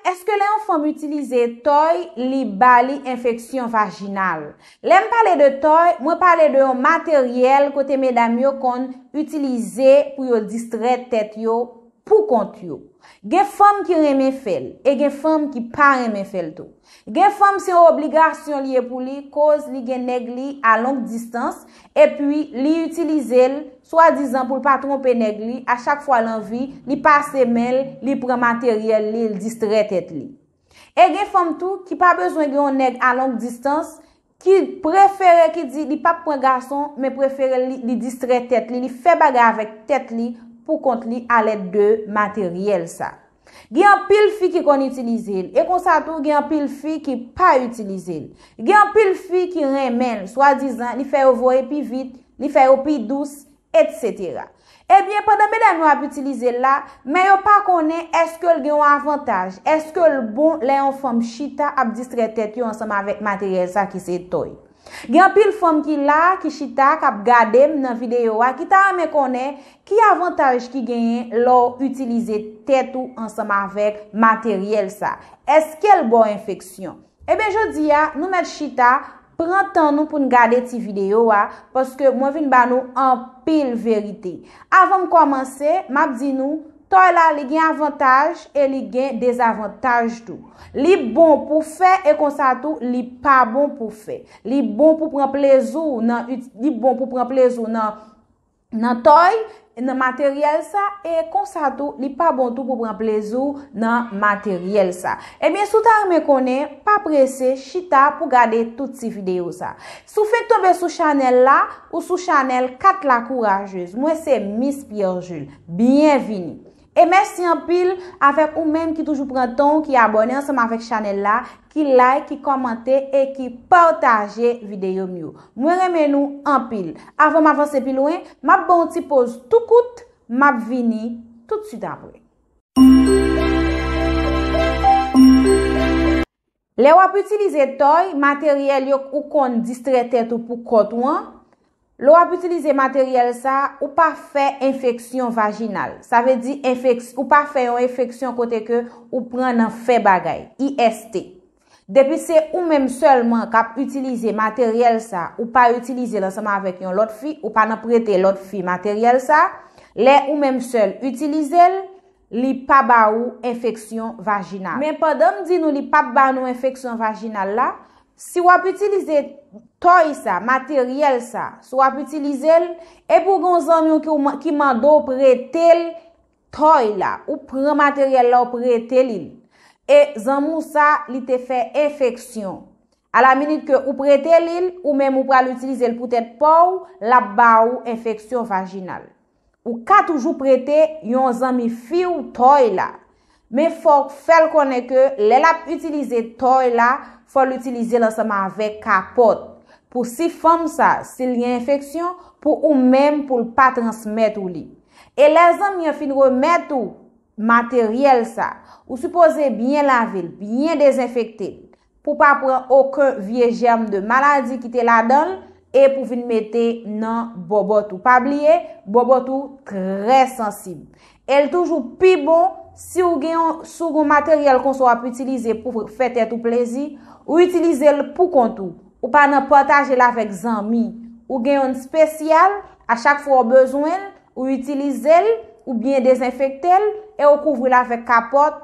Èske lè yon fanm itilize tòy li ba li enfeksyon vajinal? Lè m pale de tòy, mwen pale de yon materyèl kote medam yo konn itilize pou yo distrè tèt yo pou kont yo. Gen fanm ki renmen fè l e gen fanm ki pa renmen fè l tou. Gen fanm se yon obligasyon li ye pou li koz li gen nèg li a long distans Epi, li itilize l, swadizan pou l pa twonpe nèg li, a chak fwa l anvi, li pase men l, li pran materyèl li, l distrè tèt li. E gen fanm tou, ki pa bezwen gen yon nèg a long distans, ki prefere, ki di li pap pran gason, men prefere li, li distrè tèt li, li fè bagay avèk tèt li, pou kont li, alèd de materyèl sa. Gen anpil fi ki konn itilize l, e konsa tou gen anpil fi ki pa itilize l. Gen anpil fi ki renmen l, swadizan li fè yo voye pi vit, li fè yo pi dous, etsetera. Ebyen, pandan medam yo ap itilize l la, men yo pa konnen èske l gen yon avantaj, èske l bon lè yon fanm chita ap distrè tèt yo ansanm avèk materyèl sa ki se toy. Gen anpil fanm ki la, ki chita, kap gadem nan video a ki ta renmen konnen ki avantaj ki genyen lè w itilize tèt ou ansanm avèk materyèl sa. Eske l ba w enfeksyon? Ebyen jodi a nou mèt chita, pran tan nou pou n gade ti video a, paske mwen vin ba nou anpil verite. Avan m kòmanse, map di nou, Tòy la li gen avantaj e li gen dezavantaj tou. Li bon pou fè e konsa tou li pa bon pou fè. Li bon pou pran plezi w nan li bon pou pran plezi w nan nan tòy nan materyèl sa e konsa tou li pa bon tou pou pran plezi w nan materyèl sa. Ebyen si w ta renmen konnen pa prese chita pou gade tout ti videyo sa. Si w fenk tonbe sou chanèl la ou sou chanèl 4 la kourajez. Mwen se Miss Pierre Jules. Byen vini. E mèsi anpil avèk ou menm ki toujou pran tan w ki abòne ansanm avèk chanèl la, ki like, ki kòmante e ki pataje videyo m yo. Mwen renmen nou anpil. Avan m avanse pi lwen, m ap ban w ti poz tou kout, m ap vini toutswit apre. Lè wap itilize tòy, materyèl yo k ou konn distrè tèt ou pou kòt ou an, lè wap itilize materyèl sa, ou pa fè enfeksyon vajinal. Sa vle di enfeks, ou pa fè yon efeksyon kote ke ou pran nan fè bagay, IST. Depi se ou menm sèlman kap itilize materyèl sa, ou pa itilize l ansanm avèk yon lòt fi, ou pa nan prete lòt fi materyèl sa, lè ou menm sèl itilize l, li pa ba ou enfeksyon vajinal. Men pandan m di nou li pap ba nou enfeksyon vajinal la, si w ap itilize tòy sa, materyèl sa, si w ap itilize l, epi w gen yon zanmi w ki mande w prete l tòy la, ou pran materyèl la ou prete li l, e zanmi w sa li te fè enfeksyon, a la minit ke ou prete li l, ou menm ou pral itilize l pou tèt pa w, l ap ba ou enfeksyon vajinal. Ou ka toujou prete yon zanmi fi w tòy la. Men fò w fè l konnen ke lè l ap itilize tòy la, fò l itilize l ansanm avèk kapòt. Pou si fanm sa, si l gen enfeksyon, pou ou menm pou l pa transmèt ou li. E lè zanmi an fin remèt ou materyèl sa, ou sipoze byen lave l, byen dezenfekte l. pou pa pran oken vye jèm de maladi ki te ladan l e pou vin mete nan bòbòt ou. Pa bliye, bòbòt ou trè sansib. E l toujou pi bon, si w gen yon, si w gen yon materyèl konsa w ap itilize pou fè tèt ou plezi, ou itilize l pou kont ou. Ou pa nan pataje l avèk zanmi. Ou gen yonn spesyal, a chak fwa w bezwen l, ou itilize l, ou byen dezenfekte l, e ou kouvri l avèk kapòt,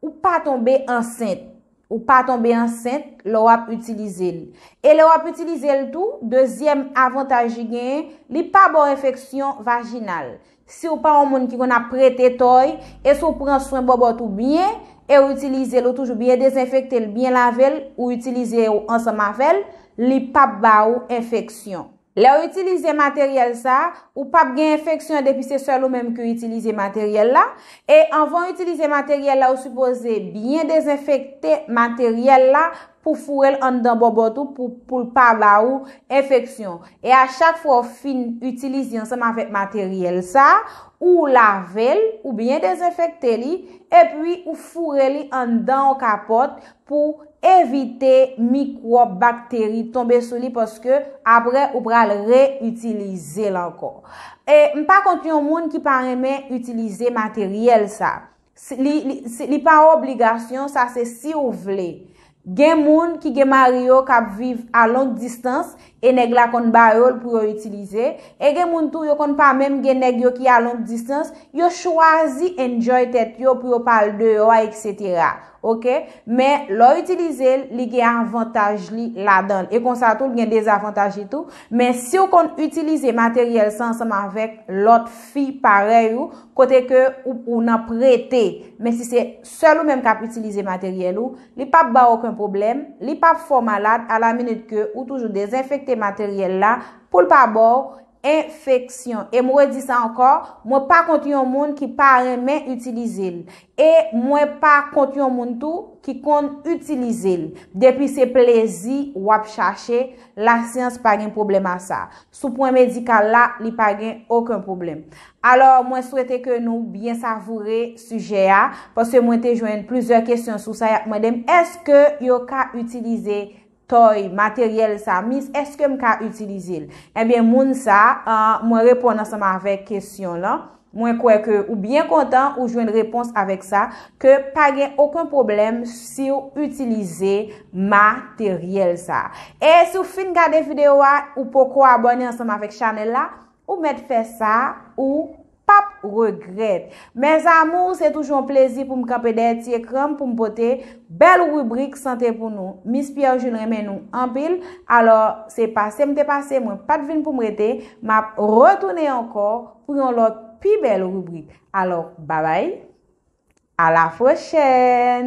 Ou pa tonbe ansent. Ou pa tonbe ansent lè w ap itilize l. E lè w ap itilize l tou, dezyèm avantaj li genyen, li pa ba w enfeksyon vajinal. Si w pa yon moun ki konn ap prete tòy, e si w pran swen bòbòt ou byen, e w itilize l, ou toujou byen dezenfekte l, byen lave l, ou itilize ou ansanm avè l, li p ap ba ou enfeksyon. Lèw itilize materyèl sa, ou pap gen enfeksyon depi se sèl ou menm ki itilize materyèl la, e anvan itilize materyèl la ou sipoze byen dezenfekte materyèl la pou fourel anndan bòbòt ou pou poul pa ba ou enfeksyon. E a chak fwa ou fin itilize ansanm avèk materyèl sa, ou lavel, ou byen dezenfekte li, epi ou foure li anndan yon kapòt, pou evite mikwòb, bakteri tonbe sou li paske aprè ou pral re itilize l ankò. E m pa kont yon moun ki pa renmen itilize materyèl sa. Li pa obligasyon sa se si ou vle. Gen moun ki gen mari yo kap viv a long distans E nèg la konn ba yo l pou yo itilize, e gen moun tou yo konn pa menm gen nèg yo ki a long distans, yo chwazi enjoy tèt yo pou yo pa al deyò a etc. Ok, men lè w itilize l, li gen avantaj li ladan l, e konsa tou l gen dezavantaj li tou, men si w konn itilize materyèl sa ansanm avèk lòt fi parèy ou, kote ke ou nan prete, men si se sèl ou menm k ap itilize materyèl ou, Li pap baw oken pwoblèm, li pap fè w malad a la minit ke ou toujou dezenfekte materyèl la poul pa baw enfeksyon. E m redi sa ankò, mwen pa kont yon moun ki pa renmen itilize l. E mwen pa kont yon moun tou ki konn itilize l. Depi se plezi wap chache, lasyans pa gen pwoblèm a sa. Sou pwen medikal la, li pa gen oken pwoblèm. Alò, mwen swete ke nou byen savoure sijè a, paske mwen te jwenn plizyè kesyon sou sa, y ap mande m, èske yo ka itilize tòy, materyèl sa, mis, èske m ka itilize l? Ebyen, moun sa, mwen reponn ansanm avèk kesyon lan. Mwen kwè ke ou byen kontan ou jwenn repons avèk sa, ke pa gen oken pwoblèm siw itilize materyèl sa. E si w fin gade video a, ou poko abòne ansanm avèk chanèl la, ou mèt fè sa, ou pap regrèt. Mes amours, se toujou yon plezi pou m kanpe dèyè ti ekran m pou m pote bèl ribrik sante pou nou. Miss Pierre Jules renmen nou anpil, alò se pase m te pase, mwen pat vin pou m rete, map retounen ankò. pou yon lòt pi bèl ribrik alò babay a la pwochèn.